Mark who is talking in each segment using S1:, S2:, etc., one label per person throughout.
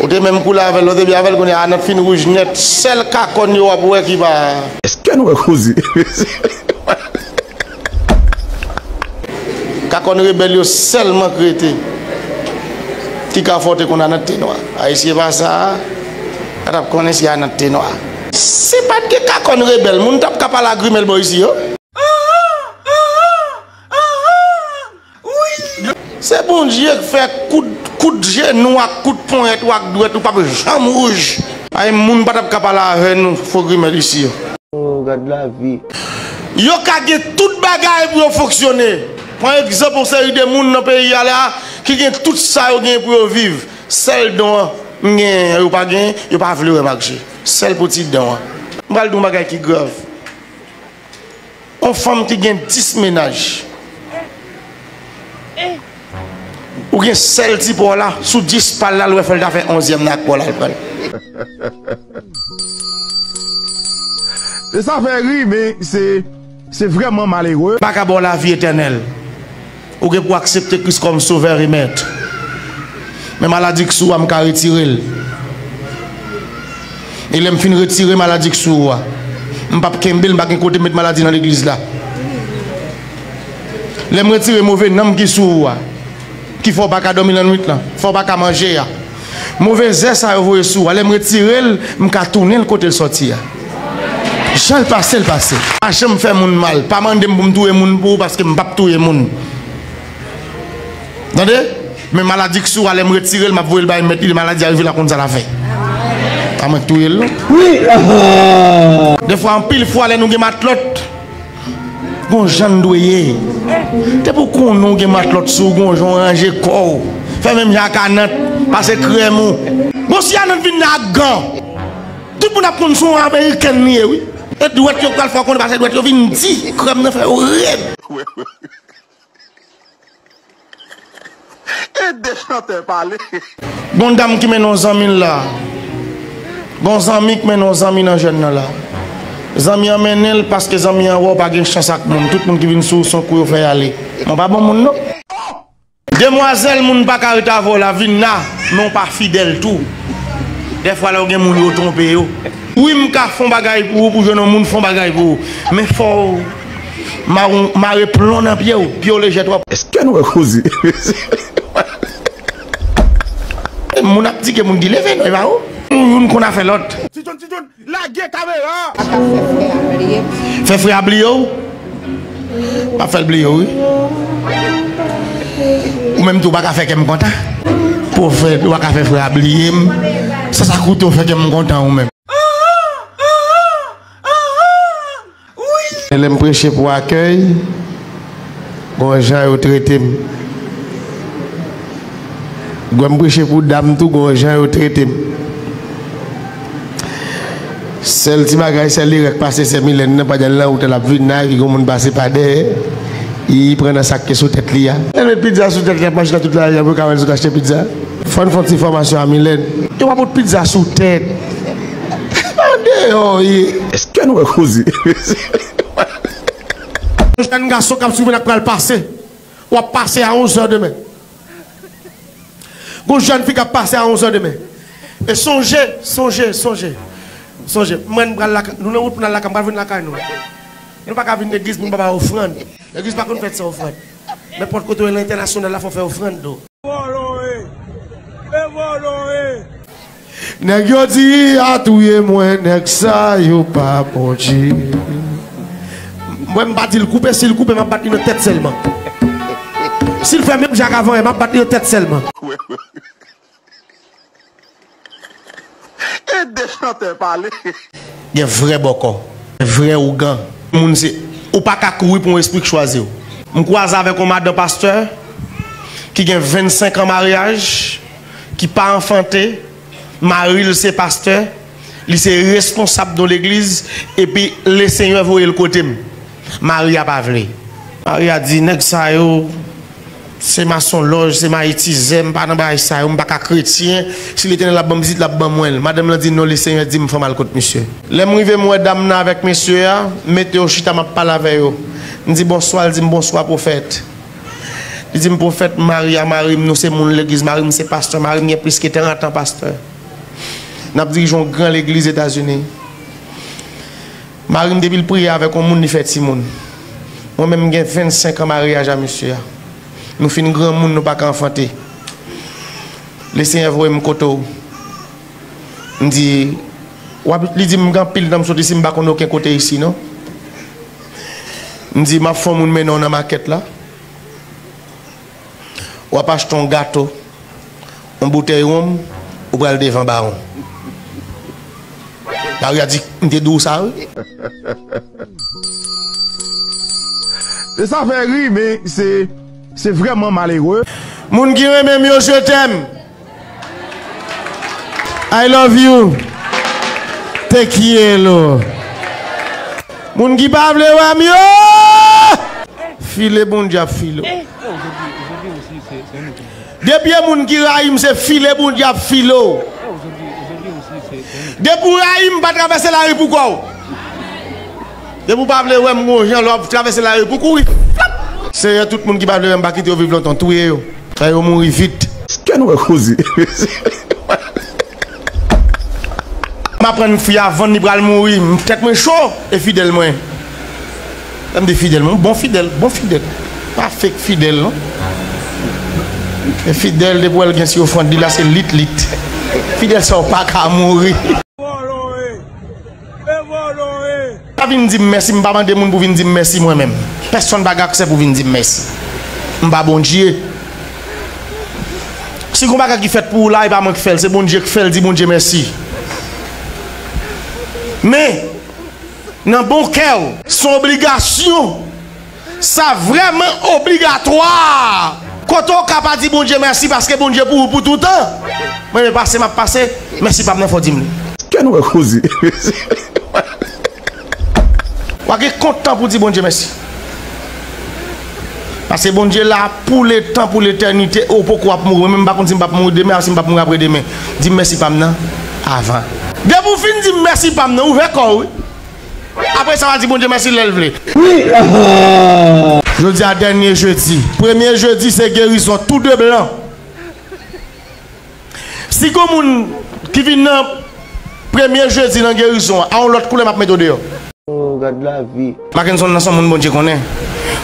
S1: Ou te menm koulè avèl lè w te byen avèl kounya Anèt fin rouj nèt sèl kakòn yo wap wè ki pa. Eske'n wè kouzi Anèt. Kakòn rebèl yo sèlman k rete ki ka fè w te konn Anèt te nwa ay si e pa sa pa tap konnen si Anèt te nwa. Si pat gen kakòn rebèl moun tap ka pale a grimèl bò isi yo. Se Bondye k fè kout jenou ak kout ponyèt ou ak dwèt ou pap janm wouj. Ay moun patap ka pale avè nou fo grimèl isi yo. Ooh gad
S2: lavi. Yo ka
S1: gen tout bagay pou yo fonksyone. Pran egzanp yon seri de moun nan peyi a la ki gen tout sa yo gen pou yo viv. Sèl don an m genyen an yo pa genyen, yo pa vle wè m ak je. Sèl pou ti don an. M pral di w yon bagay ki grav. On fanm ki gen 10 mennaj. Ou gen sèl ti paw la sou 10 pal la lwè fèl ta fè onzyèm nan ak paw la al pranl.
S3: Sa fè ri men se vrèman malere. Paka baw lavi
S1: etènèl. Ou gen pou aksepte Kris kòm Sovè e Mèt. Men maladi k sou ou a m ka retire l. E lè m fin retire maladi k sou ou a, m p ap kenbe l, m pa gen kote met maladi nan legliz la. Lè m retire move nanm ki sou ou a, ki fè w pa ka dòmi lannwit lan, fè w pa ka manje a, Move zè sa yo voye sou a, lè m retire l, m ka tounen l kote l sòti a. Jan l pase l pase. Pa janm fè moun mal. Pa mande m pou m touye moun pou ou paske m pap touye moun. Tande! Men maladi k sou a, lè m retire l, m ap voye l bay mèt li, lè maladi a rive l ap konn sa l ap fè. Pa mwen k touye l non. Dèfwa, anpil fwa lè nou gen matlòt. Gon jann dwe ye. Depi ou konnen ou gen matlòt sou ou gon jan ou ranje kò ou. Fè menm jan ak Anant, pase krèm ou. Bon si Anant vin la ak gan, tout moun ap konn son amerikèn li ye wi. E dwèt yo pral fè ou konnen pase dwèt yo vin di, krèm nan fè yo red.
S3: Ede chantè pale. Gon dam
S1: ki mennen yon zanmil la. Gon zanmi k mennen yon zanmi nan jèn nan la. Zanmi an mennenl paske zanmi an wè w pa gen chans ak moun tout moun ki vin sou ou son kou yo fè y ale. Mwen pa bon moun non. Demwazèl moun paka ret avèw la vinna men ou pa fidèl tou dèfwa lèw gen moun yo tronpe yo wi mka fon bagay pou ou pou jwenn yon moun fon bagay pou ou men fòw. Maron mare plon nan pyew, pyew lejè trop. Eske nou wè koze mesye yo. Moun ap di ke moun ki leve noi maron. Youn konn afè lot. Ti John ti John
S3: lage kamera a. Pa ka fè frè a bliye
S1: w. Fè frè a bliye w? Map fèl bliye w wi. Ou menm tou ou pa ka fè kèm kontan. Profèt ou pa ka fè frè a bliye m sa sa koute w fè kèm kontan ou menm. Se lè m preche pou akèy, m wè jan yo trete m. Gwen m preche pou dam tou, m wè jan yo trete m. Sèl ti bagay, sèl erè k pase sè Milèn nan, pandan l nan wout la, l ap vin la, epi gen yon moun pase pa dèyè, li pran nan sa k te sou tèt li a. Lè l met pizza sou tèt li, l ap mache nan tout lari a pou yo ka wè l sot achte pizza. Fò n fè yon ti fòmasyon a Milèn. Yo pa pot pizza sou tèt. Tande yo
S3: wi. Eske nou wè koze
S1: mesye. Yon jèn gason kap swiv lak pral pase wap pase a 11 heure demen gon jèn fi kap pase a 11 heure demen e sonje sonje sonje sonje mwen m pral lakay nou nan wout pou nal lakay m pral vin lakay nou nou paka vin legliz pou nou pa bay ofrand legliz pa konn fèt san ofrand nenpòt kote ou ye nan entènasyonal la fò fè ofrand ou. Vòlò e! E vòlò e! Nèg yo di a touye mwen nèg sa yo pa bondje Mwen m pa di l koupe si l koupe m ap bat li nan tèt sèlman Si l fè menm jan ak avan e m ap bat li nan tèt sèlman.
S3: Ede chantè pale. Gen vrè
S1: bòkò, gen vrè ougan. Moun se ou pa ka kouri pou yon espri k chwazi w. M kwaze avèk yon madan pastè ki gen 25 an maryaj, ki pa anfante, mari l se pastè, li se reskonsab yon legliz epi lesenyè voye l kote m. Mari a pa vle. Mari a di, nèg sa yo se masonlòj, se mayitizè, m pa nan bagay sa yo, m pa ka kretyen, si Letènèl ap ban m pitit, l ap ban mwen l. Madanm lan di, non, Lesenyè di m fè m al kot misye. Lè m rive m wè dam nan avèk mesye a, m mete yo chita m ap pale avè yo. M di bonswa, l di m bonswa pwofèt. Li di m pwofèt, mari a mari m, nou se moun legliz, mari m se pastè, mari m gen plis ke terantan pastè. N ap dirije yon gran legliz Etazini. Marim depil priye avèk on moun li fè timoun mwen menm mgen 25 an maryaj a mesye a nou fin granmoun nou paka anfante le senyè voyem kote w mdi wap li dim mgen anpil tan msoti sim pa konn oken kote isi non mdi map fon moun mennen w nan makèt la. Wap achte yon gato, yon boutèy ronm, ou pral devan bawon. Lari a di, m te di w sa wi.
S3: E sa fè ri men se vrèman malere. Moun ki renmen
S1: m yo je t'aime. I love you te kielo moun ki pa vle wèm yo file bon Dieu ap file w depi e moun ki rayim se file bon Dieu ap file w depi w rayim pa travèse lari pou kò w. Depi ou pa vle wèm m gon jan lè wap travèse la ri pou kouri flap. Senyè tout moun ki pa vle wèm pa kite yo viv lontan touye yo fè yo mouri vit. Kè nou wè koze M aprann fi a vann li pral mouri tèt mwen cho e fidèl mwen lè m di fidèl mwen bon fidèl bon fidèl pa fake fidèl non e fidèl depi wèl gen si ofrand li la se lit lit fidèl sa ou paka mouri. Pa vin di m mèsi, m pa mande moun pou vin di m mèsi mwen menm. Pèsonn pa gen aksè pou vin di m mèsi. M pa Bondye. Si gon bagay ki fèt pou ou la, e pa mwen ki fè l, se Bondye ki fè l, di Bondye mèsi. Men, nan bon kè ou. Son obligasyon. Sa vrèman obligatwa! Kote w ka pa di Bondye mèsi paske Bondye pou ou pou toutan. Mwen renmen pase map pase, mèsi pam nan fò dim li. Kè nou wè koze
S3: mesye.
S1: Wa gen kontan pou di Bondye mèsi. Paske Bondye la pou letan pou letènite e w poko ap mouri. Mwen menm m pa konn si m pap mouri demen a si m pap mouri apre demen. Dim mèsi pam nan avan. Depi w fin dim mèsi pam nan ouvè kò w wi. Apre sa wa di Bondye mèsi lèl vle. Wi aah. Jodi a dènye jedi. Premye jedi se gerizon tou 2 blan. Si gon moun ki vin nan premye jedi nan gerizon a yon lòt koulè map mete w deyò. Oh gad
S2: lavi. Makenson nan son moun Bondye
S1: konnen.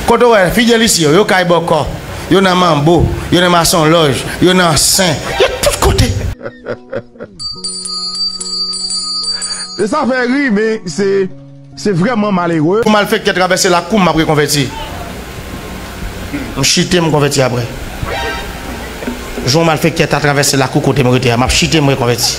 S1: Kote w wè Fidelis yo? Yo kay bòkò, yo nan manbo, yo nan masonlòj, yo nan sen, yo tout kote.
S3: Se sa fè ri men se vrèman malere. Pou malfekte travèse lak
S1: koum map rekonvèti m chite m konvèti aprè jou yon malfekte ta travèse lak ou kotem rete a map chite m rekonvèti.